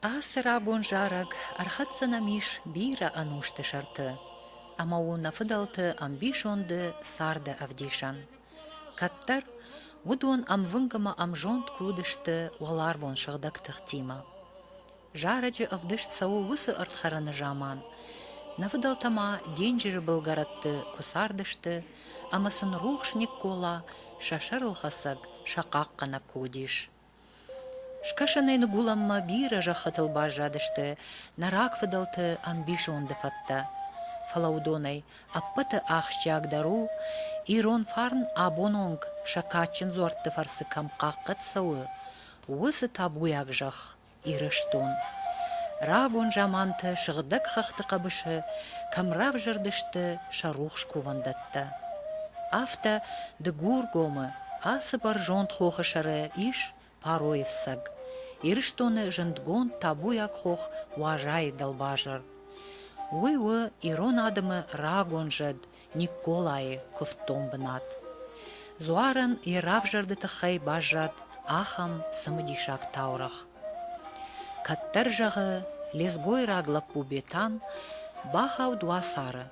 Ацы рагон зарӕг ӕрхӕццӕ нӕм ис бирӕ ӕнусты сӕрты ӕмӕ у нӕ фыдӕлты ӕмбисонды царды ӕвдисӕн. Кӕддӕр уыдон ӕмвынг ӕмӕ ӕмзонд куы уыдысты уӕларвон сыгъдӕг тыхтимӕ. Зарӕджы ӕвдыст цӕуы уыцы ӕрдхӕрыны заман. Нӕ фыдӕлтӕ ма денджызы былгӕрӕтты куы цардысты, ӕмӕ сын рухс Никкола сӕ сӕрылхӕцӕг, сӕ хъахъхъӕнӕг куы уыдис, Скӕсӕнӕй ныгуылӕнмӕ бирӕ зӕххытыл баззадысты нӕ рагфыдӕлты ӕмбисонды фӕдтӕ. Фӕлӕ уыдонӕй ӕппӕты ахсджиагдӕр у, ирон фарн абононг сӕ кадджын дзуӕртты фӕрцы кӕм хъахъхъӕд цӕуы, уыцы табуйаг зӕхх Ирыстон. Рагон заманты сыгъдӕг хӕхты хъӕбысы кӕм равзӕрдысты сӕ рухс кувӕндӕттӕ. Афтӕ Дыгургомы, Ацы бӕрзонд хохы сӕры ис Паройы фцӕг, Ирыстоны зындгонд табуйаг хох Уазайы дӕлбазыр. Уый у ирон адӕмы рагон зӕд Никколайы куывддон бынат. Дзуарӕн йӕ равзӕрды тыххӕй баззад ахӕм цымыдисаг таурӕгъ. Кӕддӕр зӕгъы, лезгойраг лӕппу Бетан бахауд уацары,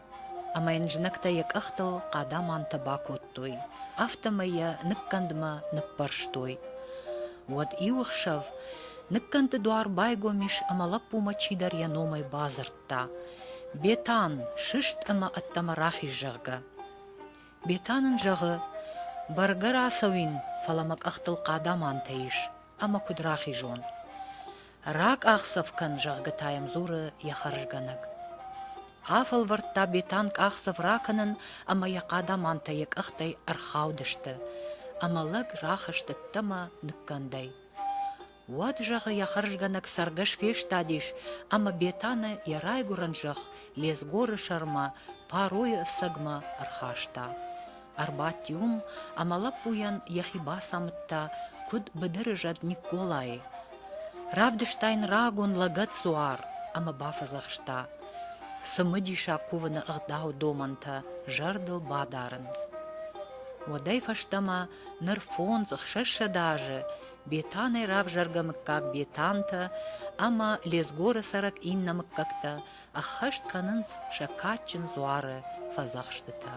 ӕмӕ йын знӕгтӕ йӕ къӕхтыл хъадамантӕ бакодтой, афтӕмӕй йӕ ныккӕндмӕ ныппӕрстой. Уӕд иу ӕхсӕв ныккӕнды дуар байгом ис ӕмӕ лӕппумӕ чидӕр йӕ номӕй бадзырдта: «Бетан, сыст ӕмӕ ӕддӕмӕ рахиз, зӕгъгӕ». Бетан ын зӕгъы: «Бӕргӕ рацӕуин, фӕлӕ мӕ къӕхтыл хъадамантӕ ис». ӕмӕ куыд рахизон? Ракъахдзӕф кӕн, зӕгъгӕ та йӕм дзуры йӕ хӕрзгӕнӕг. Афӕлвӕрдта Бетан къахдзӕф ракӕнын ӕмӕ йӕ хъадамантӕ йӕ къӕхтӕй ӕрхаудысты, ӕмӕ лӕг рахызт ӕддӕмӕ ныккӕндӕй. Уӕд, зӕгъы, йӕ хӕрзгӕнӕг цӕргӕс фестадис, ӕмӕ Бетаны йӕ райгуырӕн зӕхх Лезгоры сӕрмӕ, Паройы ӕфцӕгмӕ ӕрхаста. ӕрбадти уым ӕмӕ лӕппуйӕн йӕхи бацамыдта, куыд быдыры зӕд Никколайы. Равдыста йын рагон лӕгӕт-дзуар ӕмӕ бафӕдзӕхста цымыдиса кувыны ӕгъдау домӕнтӕ зӕрдыл бадарын. Уӕдӕй фӕстӕмӕ ныр фондз ӕхсӕзсӕд азы Бетанӕй равзӕргӕ мыггаг Бетантӕ ӕмӕ Лезгоры цӕрӕг иннӕ мыггӕгтӕ ӕххӕст кӕнынц сӕ кадджын дзуары фӕдзӕхстытӕ.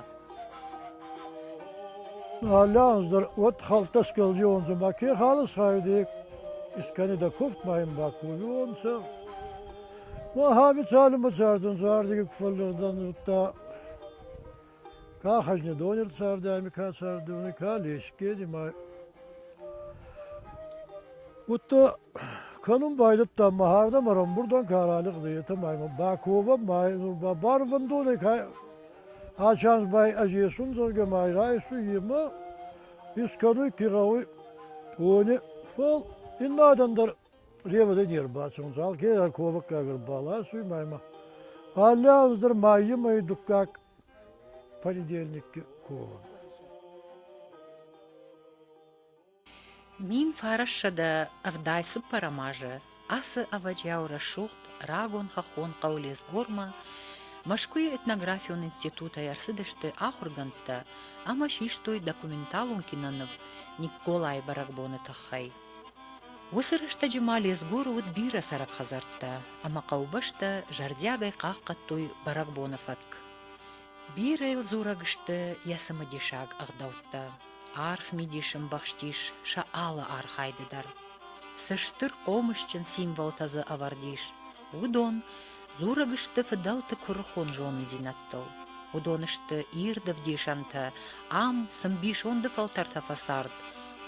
Аллӕхуыздӕр уӕд хӕлттӕ скӕлдионцӕ, ма ке халы схайди, искӕни дӕ куфт ма ин бакувионцӕ. Ма хабицалимӕ цардӕн зардиги куфаллигъдан удта Ка хӕзнедонер царди ами ка цардонӕй, ка лесгери ма Удта кӕнун байдӕдта ма хӕрдӕмӕ рамбурдон ка ралигъдӕй, етӕ ма имӕ баковӕ ма ба барвӕндонӕй ка ӕ чанс ба ӕз есун, зӕгъгӕ ма райсуй имӕ искӕнуй ки гъӕуй, уони. Фал ин адӕн дӕр Ревыды не рбацӕуын, цал гера ковыккаг ӕрбаласуй мӕмӕ. Алле аз дӕр майы мӕй дуккаг понедельникки ковын. Мин фарасса дӕ ӕвдай цыппӕрӕм азы ацы ӕвӕджиау рӕсугъд рагон хӕххон хъӕу Лесгормӕ Мӕскуыйы этнографион институтӕй ӕрцыдысты ахуыргӕндтӕ ӕмӕ систой документалон киноныв Николайы бӕрӕгбоны тыххӕй – Уыцы рӕстӕджы ма Лезгоры уыд бирӕ цӕрӕг хӕдзӕрттӕ, ӕмӕ хъӕубӕстӕ зӕрдиагӕй хъахъхъӕдтой бӕрӕгбоны фӕтк. Бирӕ йыл дзурӕг сты йӕ цымыдисаг ӕгъдӕуттӕ. Арф мидис ӕмбӕхстис сӕ алы архайды дӕр. Цы стыр хъомысджын символтӕ дзы ӕвӕрд ис, Уыдон дзурӕг сты фыдӕлты куырыхон зонындзинӕдтыл. Уыдон сты ирд ӕвдисӕнтӕ, ам цы мбисонды фӕлтӕртӕ фӕцард,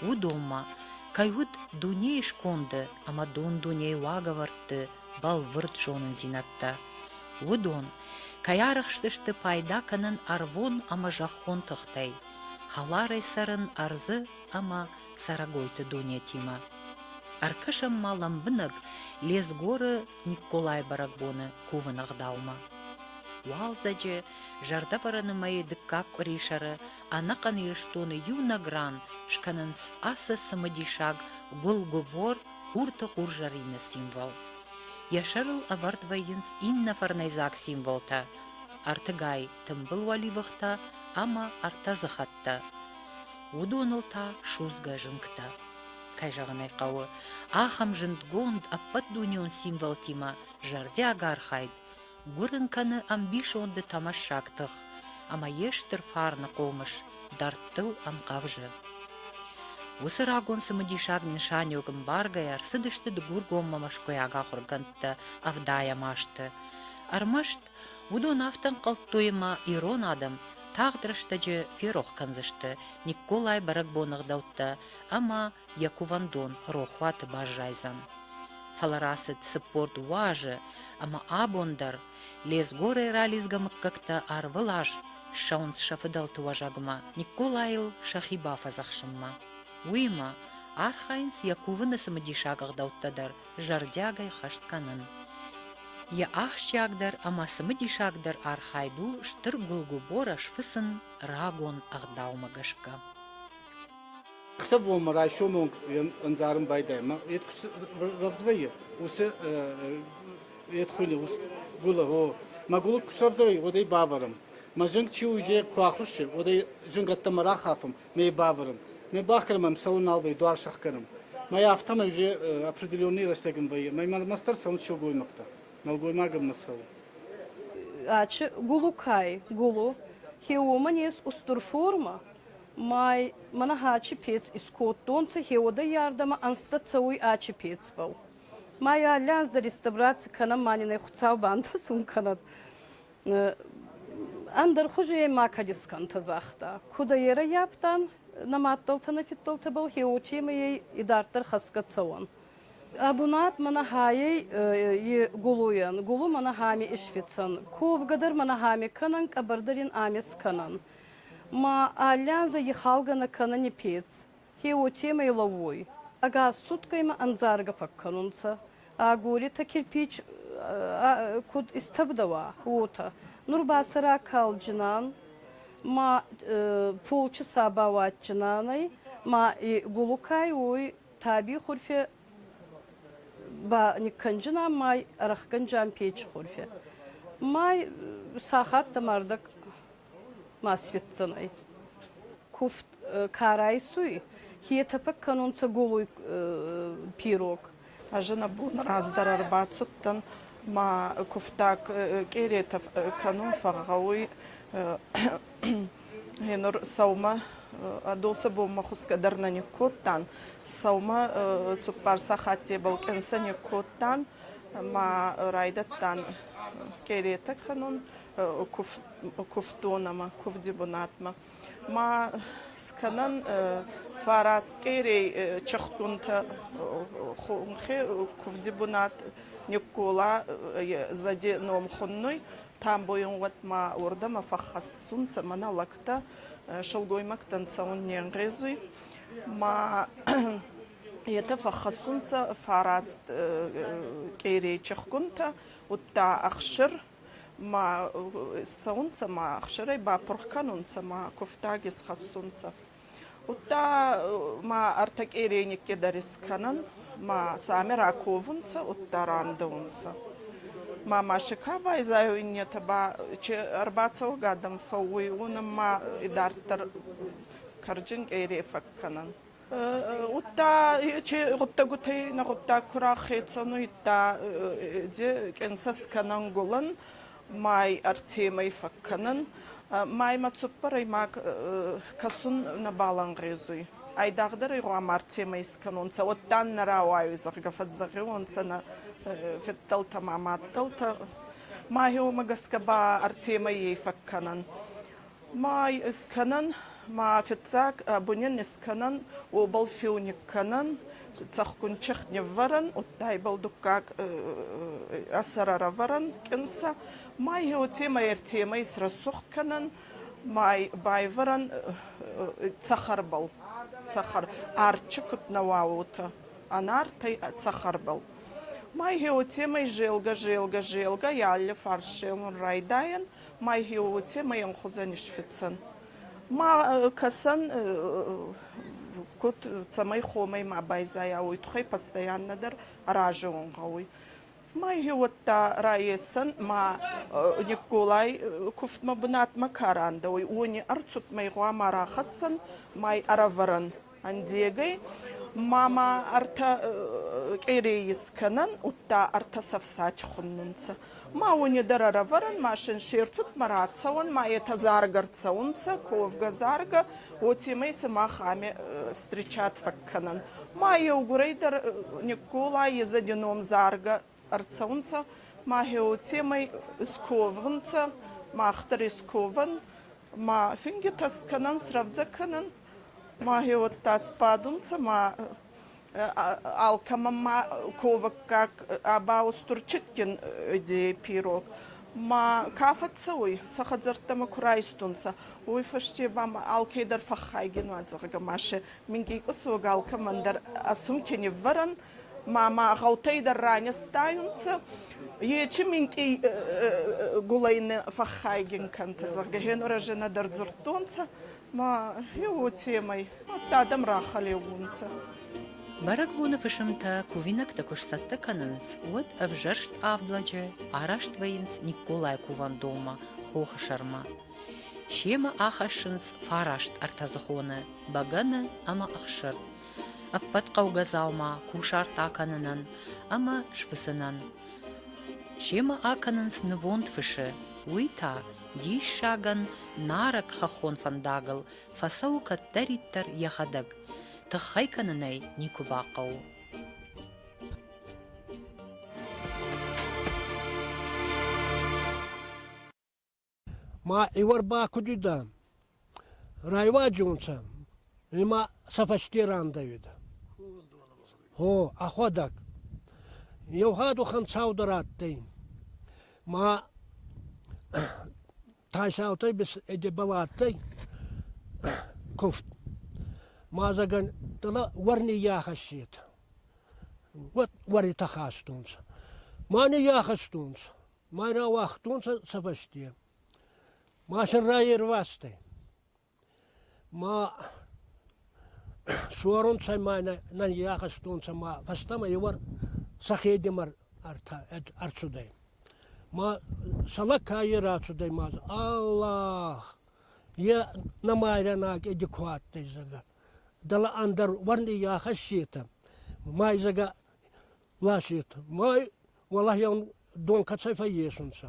уыдонмӕ, кӕй уыд дунейы сконды ӕмӕ дун-дунейы уагӕвӕрдты бӕлвырд зонындзинӕдтӕ. Уыдон кӕй арӕхстысты пайда кӕнын ӕрвон ӕмӕ зӕххон тыхтӕй, хӕларӕй цӕрын ӕрдзы ӕмӕ цӕрӕгойты донетимӕ. Ӕркӕсӕм ма лӕмбынӕг Лезгоры Николай бӕрӕгбоны кувыны ӕгъдаумӕ. Уалдзӕджы зӕрдӕвӕрӕны мӕйы дыккаг къуырисӕры ӕнӕхъӕн Ирыстоны иунӕг ран скӕнынц ацы цымыдисаг гуылгуыбор хурты хурзӕрины символ. Йӕ сӕрыл ӕвӕрд вӕййынц иннӕ фӕрнӕйдзаг символтӕ – ӕртыгай тымбыл уӕливыхтӕ ӕмӕ ӕртӕ дзыхӕттӕ. уыдоныл та судзгӕ зынгтӕ. Кӕй зӕгъын ӕй хъӕуы, ахӕм зындгонд ӕппӕтдунеон символтимӕ зӕрдиаг архайд гуырын кӕны ӕмбисонды тӕмӕссаг тых ӕмӕ йе стыр фарны хъомыс дӕрдтыл ӕнхъӕвзы. Уыцы рагон цымыдисаг нысаниуӕг ӕмбаргӕйӕ ӕрцыдысты Дыгургоммӕ мӕскуыйаг ахуыргӕндтӕ ӕвдайӕм азты. Ӕрмӕст Уыдон афтӕ ӕнхъӕлдтой, ӕмӕ ирон адӕм тагъд рӕстӕджы ферох кӕндзысты Никколайы бӕрӕгбоны ӕгъдӕуттӕ ӕмӕ йӕ кувӕндон рохуаты баззайдзӕн. Фӕлӕ рацыд цыппор дуазы, ӕмӕ абон дӕр лезгорӕй ралидзгӕ мыггӕгтӕ ӕрвылаз ссӕуынц сӕ фыдӕлты уӕзӕгмӕ Никколайыл сӕхи бафӕдзӕхсынмӕ. Уыимӕ, архайынц йӕ кувыны цымыдисаг ӕгъдӕуттӕ дӕр зӕрдиагӕй хӕст кӕнын. Йӕ ахсджиагдӕр ӕмӕ цымыдисагдӕр архайд у стыр гуылгуыборӕ сфыцын рагон ӕгъдаумӕ гӕсгӕ. Ксӕ бонмӕ райсомы онг ӕндзарын байдайы мӕ ед куы рӕвдзвӕййы уыцы ед хуыйны ус гуылы о мӕ гуылы куы срӕвдзӕй уӕд ӕй бавӕрын мӕ зынг чи уызе куы ахуыссы уӕд ӕй зынгӕттӕмӕ рахафын не бавӕрӕм. Не бахгӕнӕм ӕм цӕуын нал вӕййы, дуар сӕхгӕнӕм. Мӕй афтӕмӕй уже определенный рӕстӕг ын вӕййы. Мӕй мӕрмӕ дӕр цӕуынц сылгоймӕгтӕ. Нӕлгоймагӕн мӕ цӕуы. Ачи гулукай гулу ке уомӕнес устур форма, май мӕнӕ ачи пец искодтонцӕ, хеуодӕййардӕмӕ ӕнзтӕ цӕуй ачи пецбӕл. Май алли анз дӕр реставраци кӕнӕн ма нин ӕ хуцау бантӕсун кӕнӕд. Ӕндӕр хузи ма кадискантӕ загъта. Куд ӕй ӕрӕййафтан, нӕ мадтӕлтӕ нӕ фидтӕлтӕбӕл хеуотемӕй ӕй идарддӕр хӕсгӕ цӕуӕн. Ӕ бунат мӕнӕ хайӕй и гулуйӕн, гулу мӕнӕ хами исфицӕн, ковгӕ дӕр мӕнӕ хами кӕнӕн, къӕбӕрдӕр ин ами скӕнӕн. Ма аллиан зӕ ихалгӕ нӕ кӕнӕн и пец. Хе уотемӕй лӕууй, ӕгас суткӕймӕ ӕндзаргӕ фӕккӕнунцӕ, ӕ горӕтӕ кирпич куд истӕбдӕуа, уотӕ. Нур ба сӕ ракалдзинан ма полчъи сӕ бауадздзинан ӕй, ма и гулукӕй уой таби хурфе ба никкӕнджинан ма ӕрӕхгӕнджан печи хурфе. Ма сахаттӕ мӕрдӕг Масветдзӕнӕй. Куфт ка райсуй, е тӕпӕг кӕнунцӕ голой пирог. Ӕз нӕ бон раздӕр ӕрбацудтӕн, ма кувтаг къеретӕ кӕнун фӕгъгъӕуй. Гъенур сӕумӕ Адосӕ бонмӕ хусгӕ дӕр нӕ никкодтан. Сӕумӕ цуппар сахаттебӕл къӕнцӕ никкодтан, ма райдӕдтан къеретӕ кӕнун, кувддонӕмӕ, кувди бунатмӕ. Ма скӕнӕн фараскъерей чехтгунтӕ хунхе кувди бунат никкола зади номхуннуй, тамбойун уотма уордӕмӕ фӕххӕссунцӕ мӕнӕ лӕгтӕ, сылгоймӕгтӕн цӕун не нгъезуй. Ма етӕ фӕххӕссунцӕ фараст кьерей чехгунтӕ, удта ӕхсир, ма цӕунцӕ ма ӕхсарӕй бапурх кӕнунцӕ ма кувтаг исхӕссунцӕ. Удта ма ӕртӕ къереникке дӕр искӕнӕн, ма сӕмӕ раковунцӕ, удта рандӕунцӕ. Ма мӕсӕ ка байзайуй иннетӕ ба, чи ӕрбацӕугӕ адӕм фӕууй, уонӕн ма идарддӕр карджын къере фӕккӕнӕн. Гутта чи гуттагутей на гуттаг кураххецануйта де кенсас кӕнӕн гулын май ӕртемӕй фӕккӕнун. Маймӕ цуппӕрӕй ма кӕсун нӕбал ӕнгъезуй. Айдагъдӕр ӕй гъуама ӕртемӕ искӕнонцӕ, уӕдта нӕ рауайуй, зӕгъгӕ, фӕззӕгъиуонцӕ нӕ федтӕлтӕ ма мадтӕлтӕ. Май уомӕ гӕсгӕ ба ӕртемӕййей фӕккӕнӕн. Мӕй ыскӕнӕн, мӕ фыццаг бонӕн ыскӕнӕн уобӕл феуник кӕнӕн, цӕхгун чихт ниввӕрӕн, удтайбӕл дуккаг ӕ сӕр ӕрӕвӕрӕн кӕнцӕ. Мӕй уотемӕй ӕртемӕй срӕсугъд кӕнӕн, мӕй байвӕрӕн цӕхӕрбӕл. Цӕхӕр арчи куд нӕ уа, уотӕ ӕнартӕй цӕхӕрбӕл. Мӕй уотемӕй зелгӕ, зелгӕ, зелгӕ, алли фарсемӕн райдайӕн. Майхио, уотемӕй ӕнхузӕн исфицӕн. Ма кӕсӕн куд, цӕмӕй хомӕй ма байзайа, уой туххӕй постоянно дӕр аразун гъӕуй. Майхи уӕдта раесӕн ма никколай кувдмӕ бунатмӕ ка рандӕ уй, уони ӕрцудмӕй гъуама рахӕссӕн май ӕрӕвӕрӕн Андегӕй мама ӕртӕ къерейи скӕнӕн, удта ӕртӕ цӕфсач хуннунцӕ. Ма уони дӕр ӕрӕвӕрӕн, ма син се рцудмӕ рацӕуӕн, ма етӕ заргӕ рцӕунцӕ, ковгӕ заргӕ, уотемӕй сӕмах ами встречат фӕккӕнӕн. Ма еугурӕй дӕр Никкола езӕди ном заргӕ ӕрцӕунцӕ, ма геоцемӕй сковгъунцӕ, мах дӕр есковӕн, ма фингитӕ скӕнӕн, срӕвдзӕ кӕнӕн, ма геоттӕ сбадунцӕ, ма алкӕмӕн ма ковӕггаг ба устурчитгин идейӕй пирог. Ма ка фӕццӕуй, сӕ хӕдзӕрттӕмӕ ку райстонцӕ, уой фӕсте ба ма алкедӕр фӕххайгин уа, зӕгъгӕ, ма се мингин къусог алкӕмӕн дӕр ӕ сумки ниввӕрӕн, ма ма гъӕутӕй дӕр ранестайунцӕ, ечи минкъий гулӕй нӕ фӕххайгин кӕнтӕ, зӕгъгӕ, генуразӕнӕ дӕр дзурдтонцӕ, ма е уотемӕй адтӕй адӕм рахӕлеуунцӕ. Бӕрӕгбоны фысымтӕ кувинӕгтӕ куы сцӕттӕ кӕнынц, уӕд ӕвзӕрст авд лӕджы араст вӕййынц Никколайы кувӕндонмӕ хохы сӕрмӕ. Семӕ ахӕссынц фараст ӕртӕдзыхоны бӕгӕны ӕмӕ ӕхсыр, ӕппӕт хъӕугӕ дзаума кусарт акӕнынӕн ӕмӕ сфыцынӕн. Семӕ акӕнынц нывонд фысы, уый та диссагӕн нарӕг хӕххон фӕндагыл фӕцӕуы кӕддӕриддӕр йӕхӕдӕг, тыххӕй кӕнынӕй никуы бахъӕуы. Ма иуӕр ба куд уидӕ? Райвази унцӕ, ӕма сӕ фӕсте рандӕуидӕ. Гъо, ӕхуӕдӕг. Еу гъӕд уӕхӕн цау дӕр адтӕй. Ма Тайсаутӕй Едебӕл адтӕй куфт. Мадзагӕн дӕлӕ уӕр ниййахӕссетӕ. Уӕд уӕри тӕхастонцӕ. Ма ниййахӕстонцӕ. Ма рауагътонцӕ сӕ фӕсте. Ма сӕ райервазтӕй. Ма суаронцӕ ма нӕ нӕййахӕстонцӕ ма фӕстӕмӕ еуӕр сӕхедемӕ ӕрцудӕй. Ма сӕмӕ кайе рацудӕй ма дза «Аллах, е нӕмайрӕнаг еди ку адтӕй, зӕгъгӕ, дӕлӕ ӕндӕр уӕр ниййахӕссетӕ, ма й, зӕгъгӕ, ласет. Мой уолаеун донка цӕ фӕйесунцӕ.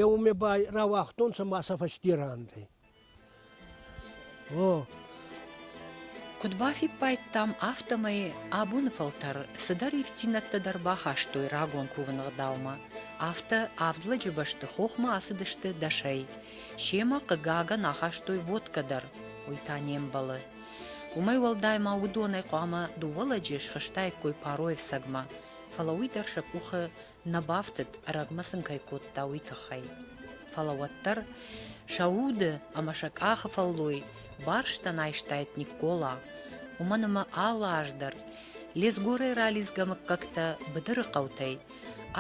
Еу ме ба рауагътонцӕ ма сӕ фӕстерандӕй. О, Куыд бафиппайдтам, афтӕмӕй абоны фӕлтӕр цыдӕр ивддзинӕдтӕ дӕр бахастой рагон кувыны гъдаумӕ. Афтӕ авд лӕджы бӕсты хохмӕ ацыдысты дӕсӕй. Семӕ, хъыгагӕн, ахастой водкӕ дӕр, уый та не мбӕлы. Уымӕй уӕлдай ма уыдонӕй хъуамӕ дыууӕ лӕджы схызтаиккой Паройы ӕфцӕгмӕ, фӕлӕ уый дӕр сӕ къухы нӕ бафтыд, ӕрӕгмӕ сын кӕй кодта, уый тыххӕй. Фӕлӕ уӕддӕр сӕ уды ӕмӕ сӕ къахы фӕллой барстӕн айстаид Никкола, уымӕн ӕмӕ алы аз дӕр Лесгорӕй ралидзгӕ мыггӕгтӕ быдыры хъӕутӕй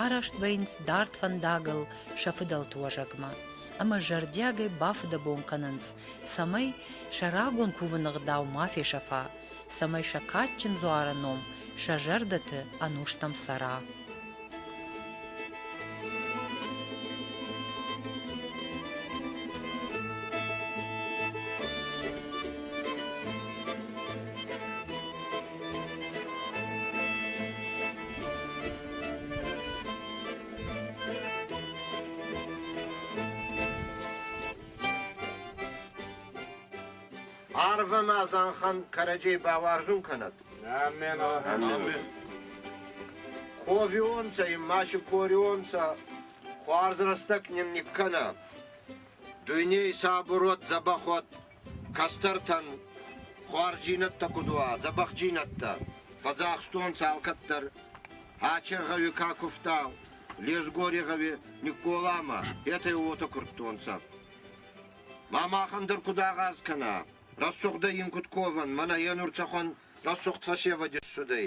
Араст вӕййынц дард фӕндагыл сӕ фыдӕлты уӕзӕгмӕ ӕмӕ зӕрдиагӕй бафыдӕбон кӕнынц, цӕмӕй сӕ рагон кувыны гъдау ма фесӕфа, цӕмӕй сӕ кадджын дзуары ном сӕ зӕрдӕты ӕнустӕм цӕра. Арвы ма зӕнхӕн кӕрӕдзей бауарзун кӕнӕд. Ковионцӕ имма шикорионцӕ, хуарз рӕстӕг нин никкӕнӕ. Дуйней сабурот, дзӕбӕхот, кӕстӕртӕн хуарджийнӕдтӕ куд уа, дзӕбӕхджийнӕдтӕ, фӕдзахстонцӕ алкӕддӕр. Ачергъеви ка кувта, Лезгорегъеви Никколамӕ, етӕй уотӕ курдтонцӕ. Ма махӕн дӕр куд агъаз кӕна? Рӕсугъдӕй ин куд ковӕн, мӕнӕ е нур цӕхуӕн рӕсугъд фӕсевӕд иссудӕй.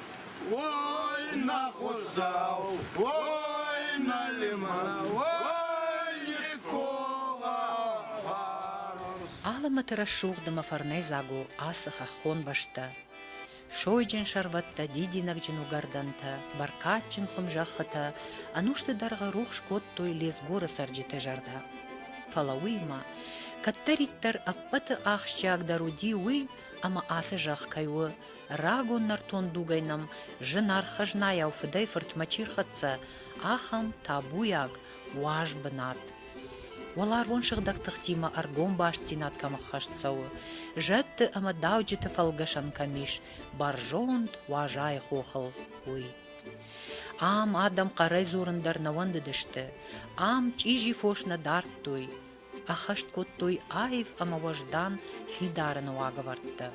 Ой, на худзау, ой, на лиман, ой, Никола Аламӕты рӕсугъд ӕмӕ фӕрнӕй дзагу ацы хӕххон бӕстӕ. Сойджын сӕрвӕттӕ, дидинӕгджын уыгӕрдӕнтӕ, бӕркадджын хуым зӕххытӕ ӕнусты дӕргъы рухс кодтой Лезгоры цӕрджыты зӕрдӕ. Фӕлӕ уыимӕ, кӕддӕриддӕр ӕппӕты ахсджиагдӕр уыди уый, ӕмӕ ацы зӕхх кӕй у Рагон нӕртон дугӕй нӕм зынаргъ хӕзнайау фыдӕй-фыртмӕ чи рхӕццӕ, ахӕм табуйаг, уаз бынат. Уӕларвон сыгъдӕг тыхтимӕ ӕргом бастдзинад кӕм ӕххӕст цӕуы, зӕдты ӕмӕ дауджыты фӕлгӕсӕн кӕм ис бӕрзонд уазайы хохыл, уый. Ам адӕм хъӕрӕй дзурын дӕр нӕ уӕндыдысты, ам чъизи фос нӕ дардтой, ӕххӕст кодтой аив ӕмӕ уӕздан хидарыны уагӕвӕрдтӕ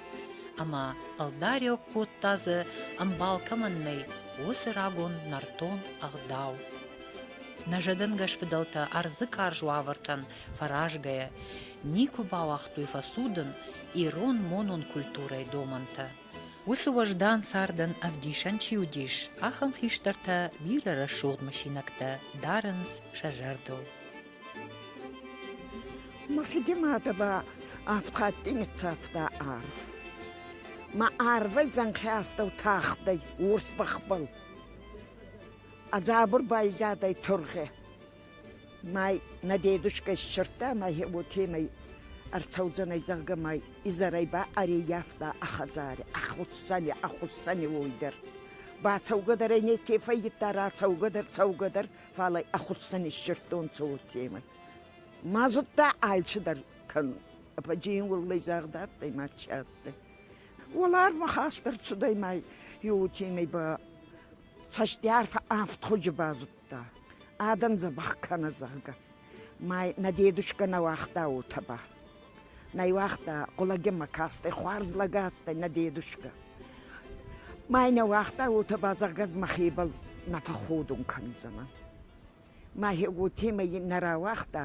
ӕмӕ ӕлдариуӕг кодта дзы ӕмбал кӕмӕн нӕй, уыцы рагон нӕртон ӕгъдау. Нӕ зӕдӕнгӕс фыдӕлтӕ ӕрдзы карз уавӕртӕн фӕразгӕйӕ никуы бауагътой фӕцудын ирон-монон культурӕйы домӕнтӕ. Уыцы уӕздан цардӕн ӕвдисӕн чи уыдис, ахӕм хистӕртӕ бирӕ рӕсугъд мысинӕгтӕ дарынц сӕ зӕрдыл. Мафидиматова авд хатти ниццавта арв. Ма арвӕй зӕнхӕ астӕу тахтӕй уорс бӕхбӕл. А дзабур байзадӕй тургъе. Май нӕ дедушка иссердта, ма е уотемӕй ӕрцӕудзӕнӕй, зӕгъгӕ, май изӕрӕй ба ӕреййафта ӕ хӕдзарӕ, ӕ хуссӕни, ӕ хуссӕни уой дӕр. Бацӕугӕ дӕр ӕй неке фӕййидта, рацӕугӕ дӕр, цӕугӕ дӕр фал ӕй ӕхуӕцӕн иссердтонцӕ уотемӕй. Ма зудта алчи дӕр кӕнун. Ӕпӕджи ин уӕллӕй загъд адтӕй мачи адтӕй. Уӕларвмӕ хастӕр цудӕй ма еутемӕй ба цӕстиарфӕ авд худжи базудта. Адӕн дзӕбӕх кӕнӕ, зӕгъгӕ. Ма нӕ дедушкӕ нӕ уагъта уотӕ ба. Найуагъта хъулагеммӕ кастӕй хуарз лӕг адтӕй нӕ дедушка. Май нӕ уагъта, уотӕ ба зӕгъгӕ ӕз мӕхебӕл нӕ фӕхходун кӕндзӕнӕ. Мӕхе уотемӕй нӕ рауагъта,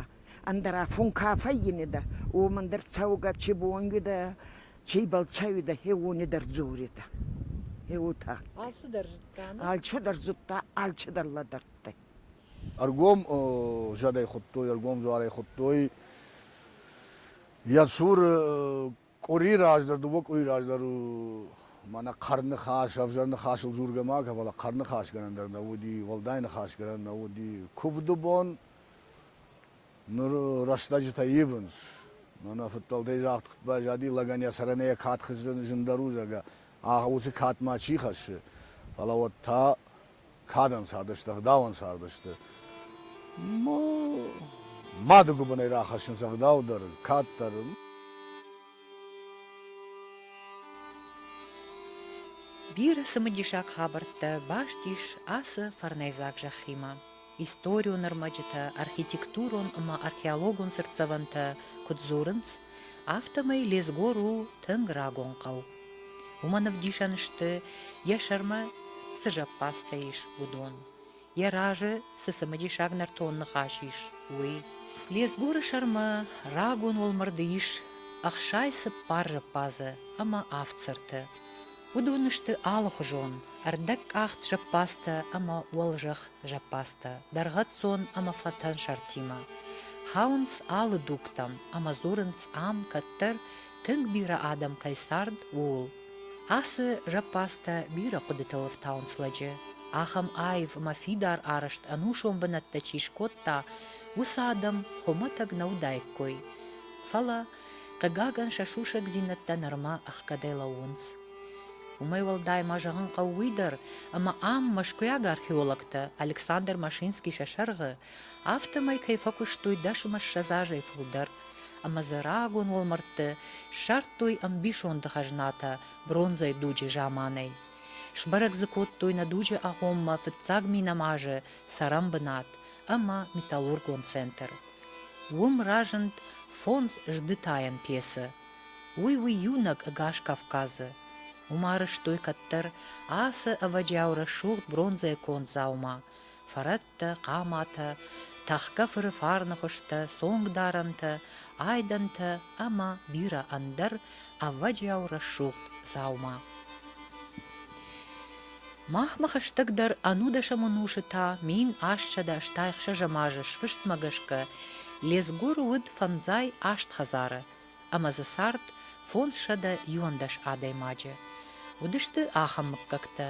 ӕндӕра фун ка фӕййинидӕ, уомӕн дӕр цӕугӕ чи бонидӕ, чийбӕл цӕуидӕ, хеуонидӕр дзоридӕ. Е уотӕ. Алчидӕр зудта, нӕ? Алчидӕр зудта, алчидӕр лӕдӕрдтӕй. Ӕргом зӕдӕй хуыдтой, ӕргом дзуарӕй хуыдтой. Йӕ цуры къуыри раздӕр, дыууӕ къуыри раздӕр у мӕнӕ хъӕрныхас, ӕвзӕр ныхасыл дзургӕ ма кӕн, фӕлӕ хъӕрныхасгӕнӕн дӕр нӕ уыди, уӕлдай ныхасгӕнӕн нӕ уыди. Куывды бон ныр рӕстӕджытӕ ивынц. Мӕнӕ фыдтӕлтӕй загъд куыд байзади, лӕгӕн йӕ сӕрӕн йӕ кад хызы зындӕр у, зӕгъгӕ, уыцы кад ма чи хӕссы, фӕлӕ уӕд та кадӕн цардысты, ӕгъдауӕн цардысты. Мады гуыбынӕй рахӕссынц ӕгъдау дӕр, кад дӕр. Бирӕ цымыдисаг хабӕрттӕ баст ис ацы фӕрнӕйдзаг зӕххимӕ. историон ӕрмӕджытӕ, архитектурон ӕмӕ археологон цыртдзӕвӕнтӕ куыд дзурынц, афтӕмӕй Лезгор у тынг рагон хъӕу. Уымӕн ӕвдисӕн сты, йӕ сӕрмӕ цы зӕппадзтӕ ис, уыдон, йӕ разы цы цымыдисаг нӕртон ныхас ис, уый. Лезгоры сӕрмӕ рагон уӕлмӕрды ис ӕхсай цыппар зӕппадзы ӕмӕ авд цырты. Уыдон сты алыхуызон, ӕрдӕгкъахт зӕппадзтӕ ӕмӕ уӕлзӕхх зӕппадзтӕ дӕргъӕццон ӕмӕ фӕтӕн сӕртимӕ. Хауынц алы дугтӕм ӕмӕ дзурынц ам, кӕддӕр тынг бирӕ адӕм кӕй цард, ууыл. Ацы зӕппадзтӕ бирӕ хъуыдытыл ӕфтауынц лӕджы, ахӕм аив ӕмӕ фидар арӕзт ӕнусон бынӕттӕ чи скодта, уыцы адӕм хуымӕтӕг нӕ уыдаиккой. Фӕлӕ Хъыгагӕн, сӕ сусӕгдзинӕдтӕ нырма ӕхгӕдӕй лӕууынц. Уымӕй уӕлдай ма зӕгъын хъӕуы уый дӕр, ӕмӕ ам мӕскуыйаг археологтӕ Александр Машинский сӕ сӕргъы, афтӕмӕй кӕй фӕкуыстой дӕсӕм ӕссӕдз азӕй фылдӕр, ӕмӕ дзы рагон уӕлмӕрдты ссардтой ӕмбисонды хӕзнатӕ бронзӕйы дуджы заманӕй. Сбӕрӕг дзы кодтой нӕ дуджы агъоммӕ фыццаг минӕмазы цӕрӕнбынат ӕмӕ металлургон центр. Уым разынд фондз сдытайӕн пьесӕ, уый у иунӕг ӕгас Кавказы, уым арӕзтой кӕддӕр ацы ӕвӕджиау рӕсугъд бронзӕйы конд дзаума, фӕрӕттӕ, хъаматӕ, тӕхгӕ-фыры фарны хуызтӕ, цонгдарӕнтӕ, айдӕнтӕ ӕмӕ бирӕ ӕндӕр ӕвӕджиау рӕсугъд дзаума. Махмӕ хӕстӕгдӕр ӕнудӕсӕм ӕнусы та мин астсӕдӕстӕй ӕхсӕзӕм азы сфыстмӕ гӕсгӕ Лезгур уыд фӕндзай аст хӕдзары ӕмӕ дзы цард фондзсӕдӕ иуӕндӕс адӕймаджы. Уыдысты ахӕм мыггӕгтӕ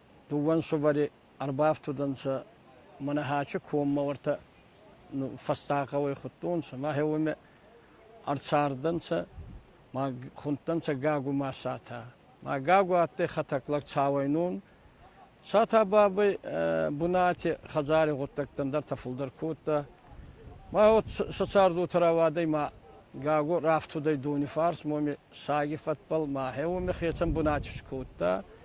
Дууӕн сувӕри ӕрбафтудӕнцӕ, мӕнӕ Хачи коммӕ уотӕ фӕсса гъӕуй худтонцӕ, мӕхе уоми ӕрцардӕнцӕ, ма хундтӕнцӕ Гагума Сата. Ма Гагу адтӕй хӕтӕг лӕг цауӕйнон. Сата бабӕй бунати хӕдзари гъуддӕгтӕн дӕртӕ фулдӕр кодта. Ма уот сӕ цӕрдутӕ рауадӕй ма Гагу рафтудӕй дони фарс моми саги фӕдбӕл, мӕхе уоми хецӕн бунати скодта.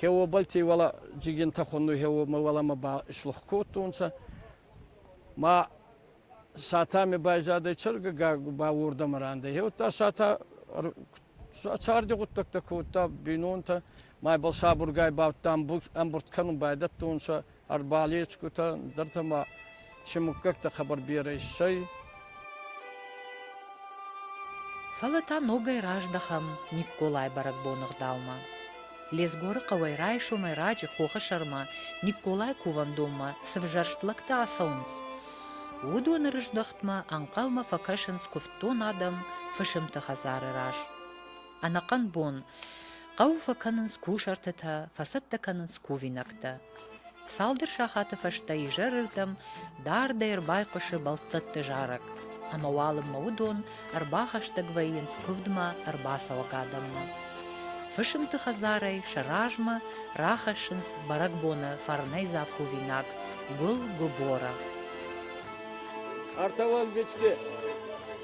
Хеуобӕлти уӕлӕ джигентӕ хоннуй хеуомӕ уӕлӕмӕ ба слух кодтонцӕ. Ма сатӕми байзадӕй чергӕ гагу ба уордӕмӕ рандӕй. Хеудта сатӕ царди гъуддӕгтӕ кодта бийнонтӕ, майбӕл сабургай ба ӕмбурд кӕнун байдӕдтонцӕ ӕрбалесгутӕ дӕртӕ ма се муггӕгтӕ хабар берӕ иссӕй. Фӕлӕ та ногӕй раздӕхӕм Никколай бӕрӕгбоны гъдаумӕ. Лезгоры хъӕуӕй райсомӕй раджы хохы сӕрмӕ Никколай кувӕндонмӕ цы взӕрст лӕгтӕ ацӕуынц, уыдоны рыздӕхтмӕ ӕнхъӕлмӕ фӕкӕсынц куывддон адӕм фысымты хӕдзары раз. Ӕнӕхъӕн бон хъӕуы фӕкӕнынц кусартытӕ, фӕцӕттӕ кӕнынц кувинӕгтӕ. Цалдӕр сахаты фӕстӕ изӕрырдӕм дардӕй ӕрбайхъуысы бӕлццӕтты зарӕг, ӕмӕ уалынмӕ уыдон ӕрбахӕстӕг вӕййынц куывдмӕ ӕрбацӕуӕг адӕммӕ. Фысымты хӕдзарӕй сӕ размӕ рахӕссынц бӕрӕгбоны фӕрнӕйдзаг кувинаг гуыл-губора. Арталан бечки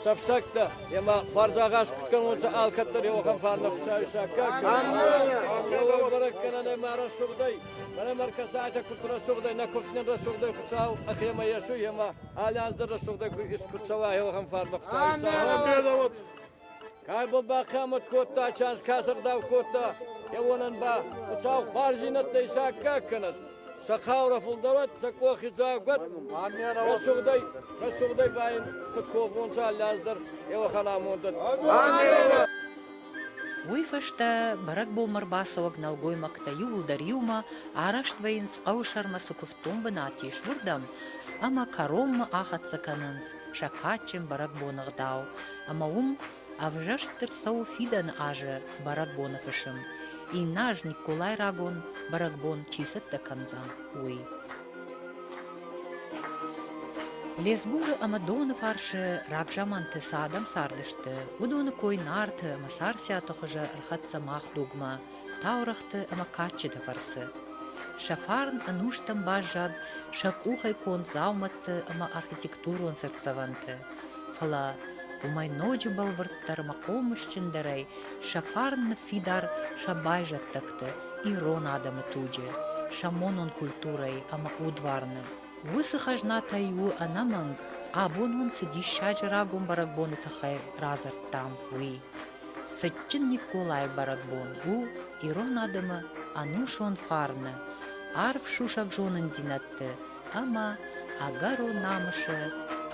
сӕфсӕгтӕ, ема бардзагъаз куд кӕнонцӕ алкӕддӕр еуӕхӕн фарна пусаисаккаг. Бӕрӕг кӕнӕн ӕма рӕсугъдӕй, мӕнӕ мӕр кӕсайтӕ куд рӕсугъдӕй, нӕ куфтнин рӕсугъдӕй хуцау ӕхемӕ есуй, ема алянзӕр рӕсугъдӕй куд цӕуа еуӕхӕн фарна пусаисаккаг. Кӕй бон бахъӕмӕт кодта, чанс кӕсӕрдау кодта, кӕуонӕн ба Хуцау хуарзийнӕдтӕ исаккаг кӕнӕд. Сӕ хаурӕ фулдӕрӕт, сӕ къохи дзагуӕт, рӕсугъдӕй, рӕсугъдӕй ба ин куд ковунцӕ аллиаздӕр, еуӕхӕн амондӕн. Уой фӕстӕ бӕрӕгбонмӕ рбацӕуӕг нӕлгоймӕгтӕ иууылдӕр иумӕ араст вӕййынц хъӕуы сӕрмӕ цы куывддон бынат ис, уырдӕм ӕмӕ кӕронмӕ ахӕццӕ кӕнынц. сӕ кадджын бӕрӕгбоны гъдау, ӕмӕ уым ӕвзӕрст ӕрцӕуы фидӕны азы бӕрӕгбоны фысым, иннӕ аз Николай рагон бӕрӕгбон чи цӕттӕ кӕндзӕн, уый. Лесгуры ӕмӕ доны фарсы рагзаманты цы адӕм цардысты, уыдоны кой Нарты ӕмӕ Царциаты хуызы ӕрхӕццӕ мах дугмӕ. таурӕгъты ӕмӕ кадджыты фӕрцы. Сӕ фарн ӕнустӕм баззад сӕ къухӕй конд дзаумӕтты ӕмӕ архитектурон цыртдзӕвӕнты, фӕлӕ уымӕй ноджы бӕлвырддӕр ӕмӕ хъомысджындӕрӕй сӕ фарн ныффидар сӕ байзӕддӕгты, ирон адӕмы туджы, сӕ монон культурӕйы ӕмӕ удварны. Уыцы хӕзнатӕй у ӕнӕмӕнг, абон уын цы диссаджы рагон бӕрӕгбоны тыххӕй радзырдтам, уый. Цытджын Николайы бӕрӕгбон у ирон адӕмы ӕнусон фарны, арф сусӕгзонындзинӕдты ӕмӕ ӕгӕро намысы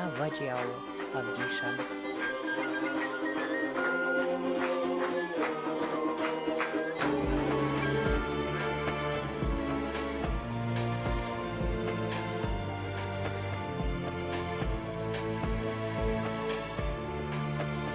ӕвӕджиауы ӕвдисӕн.